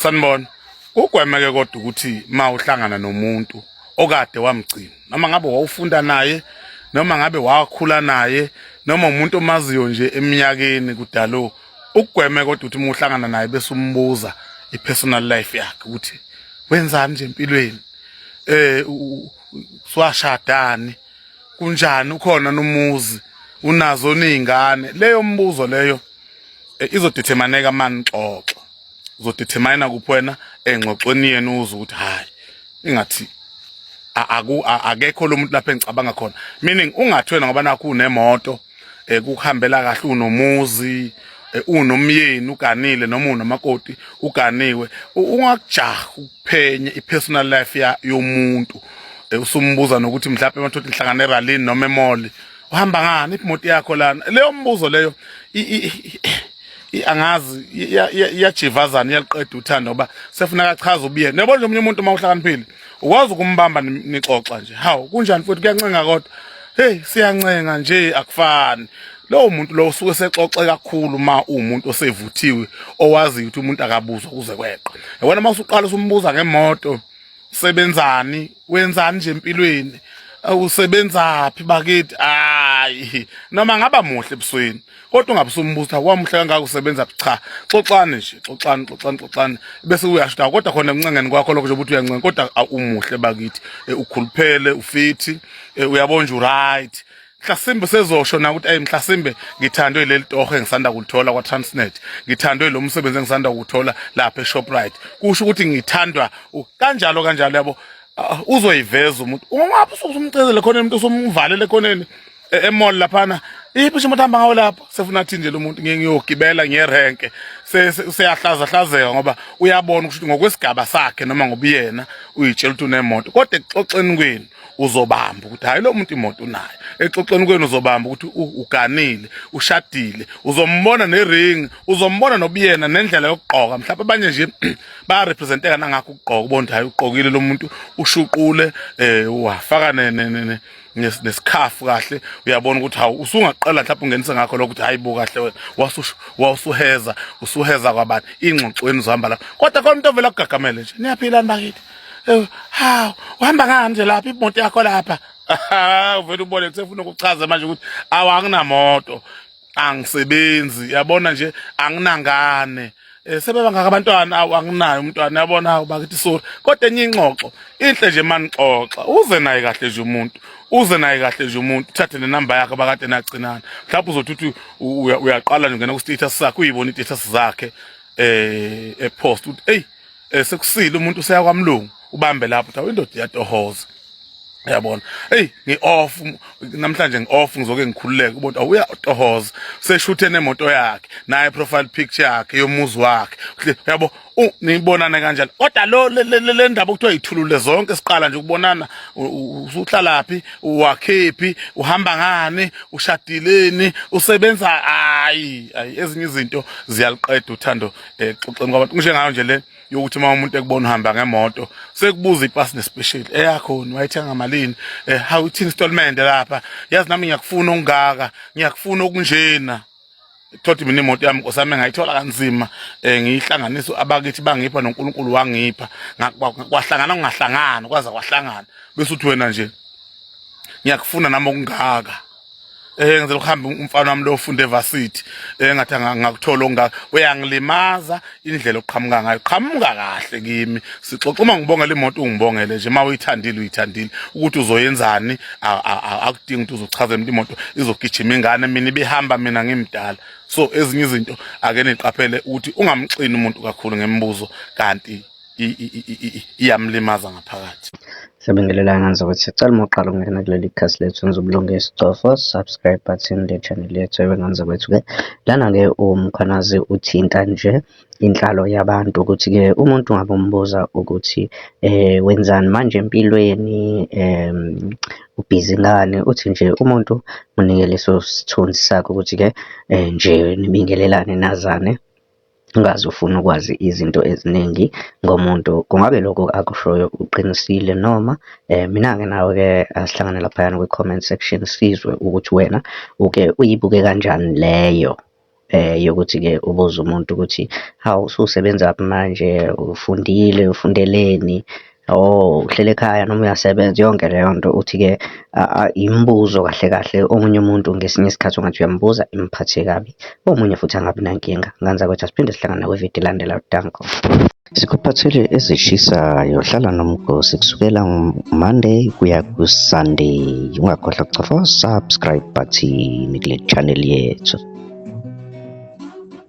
sanibona ugwemeke kodwa ukuthi ma uhlangana nomuntu okade wamgcina noma ngabe wawufunda naye noma ngabe wakhula naye noma umuntu omaziyo nje eminyakeni kudalo ukugweme kodwa ukuthi uma uhlangana naye bese umbuza i-personal life yakhe ukuthi wenzani nje empilweni eh swashadani kunjani ukhona nomuzi unazo nezingane leyo mbuzo leyo eh, izodethermineka mani xoxo uzodetermine kuphi wena engxoxweni yenu uze ukuthi hayi ingathi aku akekho lo muntu lapha engicabanga khona meaning ungathi wena ngoba nakho unemoto eh, kuhambela kahle unomuzi eh, unomyeni uganile noma unamakoti uganiwe ungakujaha ukuphenye ipersonal life yomuntu eh, usumbuza nokuthi mhlawumbe emathotha inhlangano eralini noma emoli uhamba ngani imoto yakho lana leyo mbuzo leyo angazi iyajivazana iyaliqeda uthando ngoba sefuna kachaza ubuyena yabo nje omunye umuntu uma uhlakaniphile ukwazi ukumbamba nixoxa nje hawu kunjani futhi kuyancenga kodwa hey siyancenga nje akufani lowo muntu lo usuke sexoxe kakhulu ma umuntu osevuthiwe owaziyo ukuthi umuntu akabuzwa kuze kweqa yabona uma usuqala usumbuza ngemoto sebenzani wenzani nje empilweni usebenzaphi bakithi hayi noma ngaba muhle ebusweni kodwa ungabusumbuza wamuhle kangaka usebenza cha xoxani nje xoxani xoxani xoxani bese uyashuda kodwa khona ekuncengeni kwakho lokho nje ukuthi uyancenga kodwa umuhle bakithi eh, ukhuluphele ufithi eh, uyabona nje uright mhlasimbe sezosho na ukuthi ayi mhlasimbe ngithandwe leli toho engisanda kulithola kwa-transnet ngithandwe lo msebenzi engisanda kuwuthola lapha eshoprite kusho ukuthi ngithandwa kanjalo kanjalo yabo ah, uzoyiveza umuntu ungapha usumcezele khona umuntu usumvalele khoneni e, emall laphana iphi isho umuntu hamba ngawo lapho sefuna athi nje lo muntu ngiyogibela ngiyerenke seyahlaza hlazeka ngoba uyabona ukuthi ngokwesigaba sakhe noma ngobuyena uyitshela ukuthi unemoto kodwa exoxeni kwenu uzobamba ukuthi hayi lo muntu imoto unayo exoxweni kwenu uzobamba ukuthi uganile ushadile uzombona nering uzombona nobuyena nendlela yokugqoka mhlawumbe abanye nje bayarepresenteka nangakho ukugqoka ubona hayi ugqokile lo muntu ushuqule um wafaka nesikhafu kahle uyabona ukuthi hawu usungaqala mhlawumbe ungenise ngakho lokho ukuthi hayi bo kahle wena wasuheza usuheza kwabantu ingxoxweni uzohamba lapho kodwa khona umuntu ovela kugagamele nje niyaphilani bakithi Eh, hawu uhamba ngani nje lapha imoto yakho lapha uvele ubone kusefuna ukuchaza manje ukuthi awu anginamoto angisebenzi yabona nje anginangane eh, sebeba ngaka abantwana awu anginayo umntwana yabona hawu bakithi sorry kodwa enye ingxoxo inhle nje manixoxa uze naye kahle nje umuntu uze naye kahle nje umuntu uthathe nenamba yakhe bakade nagcinana mhlawumbe uzothi uthi uyaqala nje ngena ku-status sakhe uyibona i-status zakhe eh epost uthi eyi eh sekusile umuntu useya kwamlungu ubambe lapho thawe indoda iyatohoza yabona hey ngi off namhlanje ngi off ngizoke ngikhululeke ubona awuya tohoza seshuthe nemoto yakhe naye profile picture yakhe yomuzi wakhe yabo nibonana kanjani kodwa lo le ndaba okuthiwa yithulule zonke siqala nje ukubonana usuklalaphi uwakhephi uhamba ngani ushadileni usebenza hayi hayi ezinye izinto ziyaliqeda uthando eh xoxeni kwabantu ngisho ngayo nje le yokuthi uma umuntu ekubona uhamba ngemoto sekubuza ipasi nespecial eyakho eh, wayithenga malini eh how it installment lapha yazi nami ngiyakufuna ongaka ngiyakufuna okunjena thothi mina imoto yami nkosami ngayithola kanzima eh ngiyihlanganisa abakithi bangipha noNkulunkulu wangipha kwahlangana kungahlangana kwaza kwahlangana bese uthi wena nje ngiyakufuna nami okungaka eh ngizela ukuhamba umfana wami lo ufunda evarsity eh ngathi ngakuthola ongaka uyangilimaza indlela oqhamuka ngayo qhamuka kahle kimi sixoxa uma ngibongela imoto ungibongele nje uma uyithandile uyithandile ukuthi uzoyenzani akudingi ukuthi uzochaza emuntu imoto izogijima ingane mina ibihamba mina ngimdala so ezinye izinto ake niqaphele ukuthi ungamxini umuntu kakhulu ngemibuzo kanti iyamlimaza ngaphakathi siyabingelelana nje ukuthi sicela uma uqala ukungena kuleli khasi lethu enza ubulunge isicofo subscribe button le channel yethu ebengenza kwethu-ke lana-ke umkhwanazi uthinta nje inhlalo yabantu ukuthi-ke umuntu ngabe umbuza ukuthi eh wenzani manje empilweni um ubhizi ngani uthi nje umuntu munike leso sithunzi sakho ukuthi-ke um nje nibingelelane nazane ungaze ufune ukwazi izinto eziningi ngomuntu kungabe lokho akushoyo uqinisile noma eh mina-ke nawe-ke asihlangane laphayana kwi-comment section sizwe ukuthi wena uke uyibuke kanjani leyo eh yokuthi-ke ubuze umuntu ukuthi hawu ususebenza phi manje ufundile ufundeleni Oh, uhleli ekhaya noma uyasebenza yonke leyo nto uthi-ke imibuzo kahle kahle omunye umuntu ngesinye isikhathi ungathi uyambuza imphathe kabi omunye futhi angabi nankinga nganza kwethu asiphinde sihlangana kwividiyo ilandela danko sikuphathele ezishisayo hlala nomgosi kusukela monday kuya kusunday ungakhohlwa kuchofa subscribe button kule channel yethu